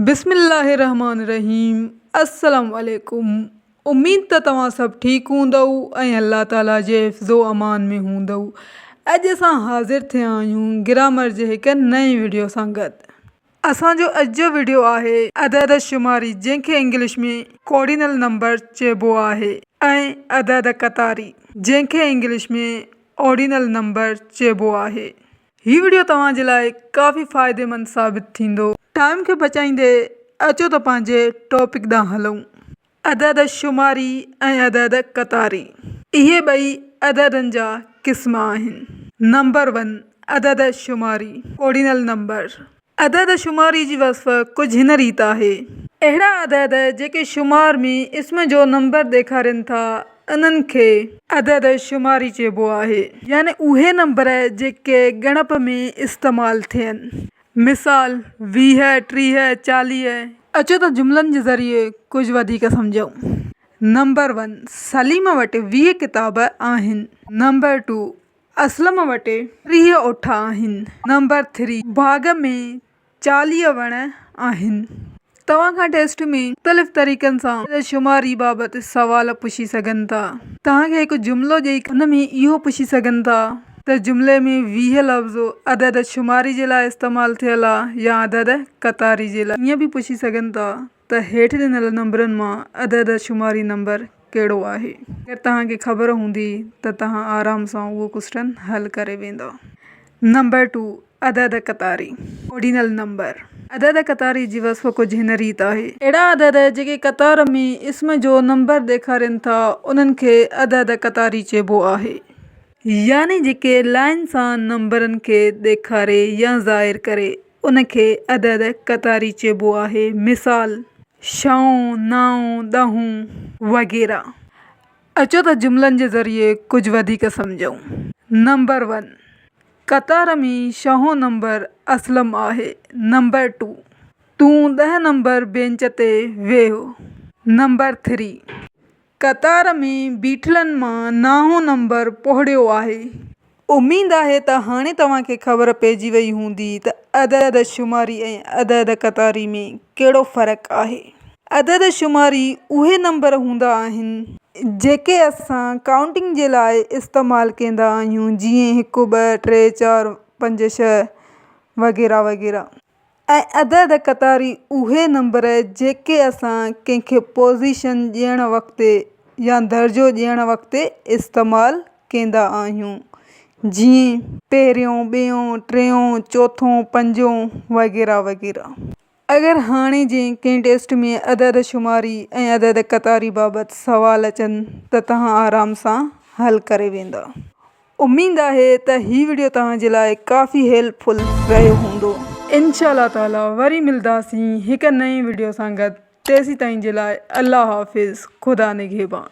بسم الله الرحمٰن الرحيم السلام عليڪم اميد ته توهان سڀ ٺيڪ هوندؤ ۽ الله تعالي جي حفظ و امان ۾ هوندؤ اڄ اسان حاضر ٿيا آهيون گرامر جي هڪ نئين وڊيو سان گڏ اسان جو اڄ جو وڊيو آهي عدد شماري جنهن کي انگلش ۾ ڪارڊينل نمبر چئبو آهي ۽ عدد قطاري جنهن کي انگلش ۾ آرڊينل نمبر چئبو آهي. هي وڊيو توهان جي لاء ڪافي فائديمند ثابت ٿيندو. ٽائيم کي بچائيندي اچو ته پنهنجي ٽاپڪ ڏانهن هلون. عدد شماري ۽ عدد قطاري. اهي ٻئي عددن جا قسم آهن. نمبر ون، عدد شماري. اوڊينل نمبر، عدد شماري جي وصف ڪجهه هن ريت آهي. اهڙا عدد جيڪي شمار ۾ اسم جو نمبر ڏيکارين ٿا، انهن کي. عدد شماري چئبو آهي. يعني اهي نمبر جيڪي ڳڻپ ۾ استعمال ٿين. مثال، ويهه، ٽيهه، چاليهه. اچو ته جملن جي ذريعي ڪجهه وڌيڪ سمجهون. نمبر ون، سليم وٽ ويهه ڪتاب آهن. نمبر ٽو، اسلم وٽ ٽيهه اٺ آهن. نمبر ٿري باغ ۾ چاليهه وڻ آهن. توهان کان ٽيسٽ ۾ مختلف طريقن سان عدد شماري بابت سوال پڇي سگهن ٿا. توهان کي هڪ جملو ڏئي ان ۾ اهو پڇي سگهن ٿا ته جملي ۾ ويهه لفظ عدد شماري جي لاء استعمال ٿيل آ يا عدد قطاري جي لاء. ائين به پڇي سگهن ٿا ته هيٺ ڏنل نمبرن مان عدد شماري نمبر ڪهڙو آهي؟ اگر توهان کي خبر هوندي ته توهان آرام سان اهو ڪوسٽن حل ڪري ويندا. نمبر ٽو، عدد قطاري، Ordinal Number، عدد قطاري جي وصف ڪجهه هن ريت آهي. اهڙا عدد جيڪي قطار ۾ اسم جو نمبر ڏيکارين ٿا انهن کي عدد قطاري چئبو آهي. يعني جيڪي لائين سان نمبرن کي ڏيکاري يا ظاهر ڪري. ان کي عدد قطاري چئبو آهي. مثال، شئون، نائون، ڏهون وغيره. اچو ته جملن جي ذريعي ڪجهه وڌيڪ سمجهون. نمبر ون، قطار ۾ شئون نمبر اسلم آهي. نمبر ٽو، تون ڏهه نمبر بينچ تي ويهه. نمبر ٿري، قطار ۾ بيٺلن مان ناهون نمبر پوڙهيو آهي. اميد آهي ته هاڻي توهان کي خبر پئجي وئي هوندي ته عدد شماري ۽ عدد قطاري ۾ ڪهڙو فرق آهي. عدد شماري اهي نمبر هوندا آهن. جيڪي اسان ڪائونٽنگ جي لاء استعمال ڪيندا آهيون جيئن هڪ ٻه ٽي چار پنج ڇهه وغيره وغيره. ۽ اڌ اڌ قطاري اهي نمبر جيڪي اسان ڪنهن کي پوزيشن ڏيڻ وقت يا درجو ڏيڻ وقت استعمال ڪيندا آهيون جيئن. پهريون، ٻيون، ٽيون، چوٿون، پنجون وغيره وغيره. اگر هاڻي جئين ڪنهن ٽيسٽ ۾ اڌ اڌ شماري ۽ اڌ اڌ قطاري بابت سوال اچن ته توهان آرام سان حل ڪري ويندا. اميد آهي ته هي وڊيو توهان جي لاء ڪافي هيلپ فل رهيو هوندو. انشاء الله تعالي وري ملداسين هڪ نئين وڊيو سان گڏ تيسيتائين جي لاء الله حافظ خدا نگهبان.